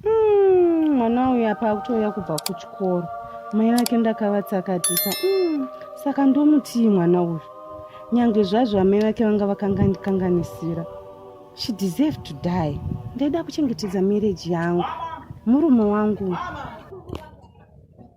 Mm, mwana uyu apa akutouya kubva kuchikoro mai vake ndakavatsakatisa mm, saka ndomutii mwana uyu nyange zvazvo amai vake vanga vakangandikanganisira she deserve to die ndaida kuchengetedza marriage yangu murume wangu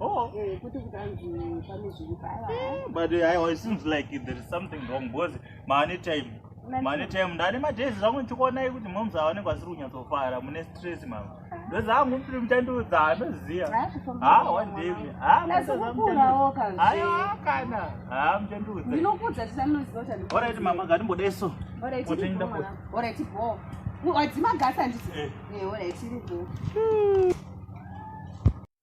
Oh. Eh, kuti kutanzi pane zviri paya. Eh, but eh, I seems like there is something wrong because many time mane time ndane madays zvangu ndichikuonai kuti moms avanenge vasiri kunyatsofara mune stress mama ndozi hangu mupiri mutandiudza hanoziva ha one day ha kana ha mutandiudza orit mama ngatimbodai so otoenda wadzima gasa ndisi orit iripo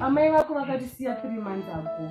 amai vako vakatisiya three months ago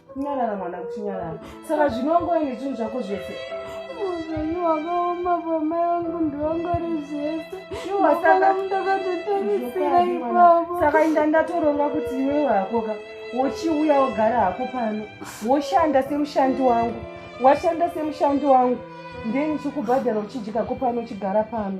kunyarara mwana kuchinyarara saka zvinongoine zvinhu zvako zvese upenyu hwakaoma pamai vangu ndivangari zvese ndakatotarisira ipapo saka inda ndatoronga kuti iwe wakoka wochiuya wogara hako pano woshanda semushandi wangu washanda semushandi wangu ndeni chikubhadhara uchidyako pano uchigara pano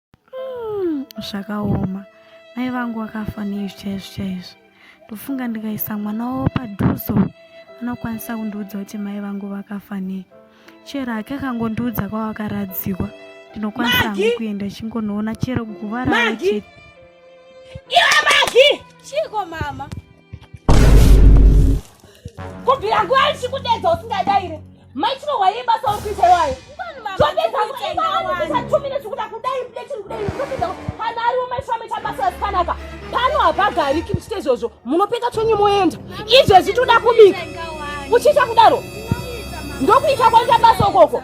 Mm, zvakaoma mai vangu vakafa neizvi chaizvo chaizvo ndofunga ndikaisa mwana wavo padhuzo anokwanisa kundiudza kuti mai vangu vakafa nei chero hake akangondiudza kwavakaradzikwa ndinokwanisa hangu kuenda chingonoona chero guva ravo chete iwe magi chiko mama kubvira nguva ichikudedza usingadaire maitiro waye basa uri kuita iwayo topedzakuiaatumine zvikuda kudai mdechiri kudai topedza kana ariwo maitiro amaita basa asikanaka pano hapagariki muchita izvozvo munopeka chonyu moenda izvezvi toda kubika uchiita kudaro ndokuita kwaita basa ukoko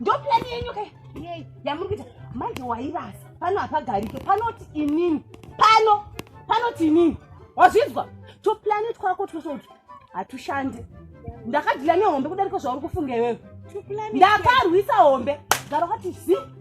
ndopurani yenyu ka yamuri kuita manje wairasa pano hapagarike panoti inini pano panoti inini wazvinzwa tupurani twako twesoti hatushande ndakadhila nehombe kudarika zvauri kufunga iwewe ndakarwisa hombe gara kwati zii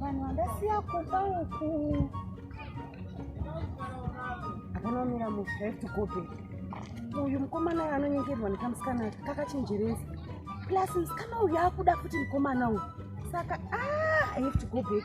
vanhu vandasiya kuba uku akanomira mushefti kupi uyu mukomana uyu anonyengerwa nekamusikana kakachenjeresa plus musikana uyu akuda futi mukomana uyu saka ah, i have to go back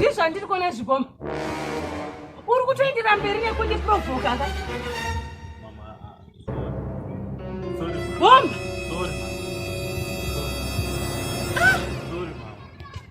zvii zvandiri kuona zviboma uri kutoendera mberi nekundiprovhokaka bomba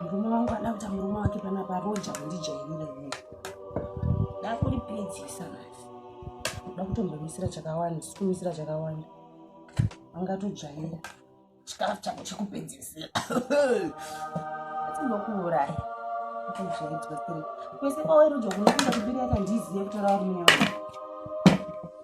murume wangu ada kuita murume wake panapa roja kundijairira ini ndakuripedzisa masi uda kutombomisira chakawanda sikumisira chakawanda angatojaira chikafu chako chekupedzisira atimbokuuraya kwese kwaweroja kunokuda kubiri yakandizive kutora uri munyama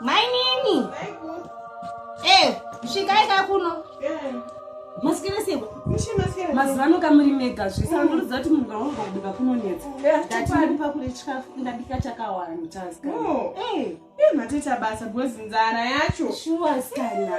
mainini eh, svikai ka kuno masikira sebo mazuva ano kamuri mega zvese andiridza kuti munhu kaunga kubika kunonetsa ndatipa kuri chikafu ndabika chakawanda matoita basa bcause nzara yacho shuwa sikana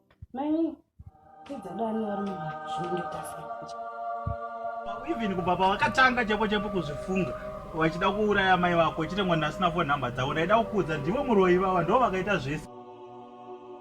Mami, kidza dani vari mumba zvinonditasa. Even kubva pavakatanga chapo chapo kuzvifunga vachida kuuraya mai vako chitengwa ndasina fo nhamba dzavo ndaida kukuudza ndivo muroyi vava ndo vakaita zvese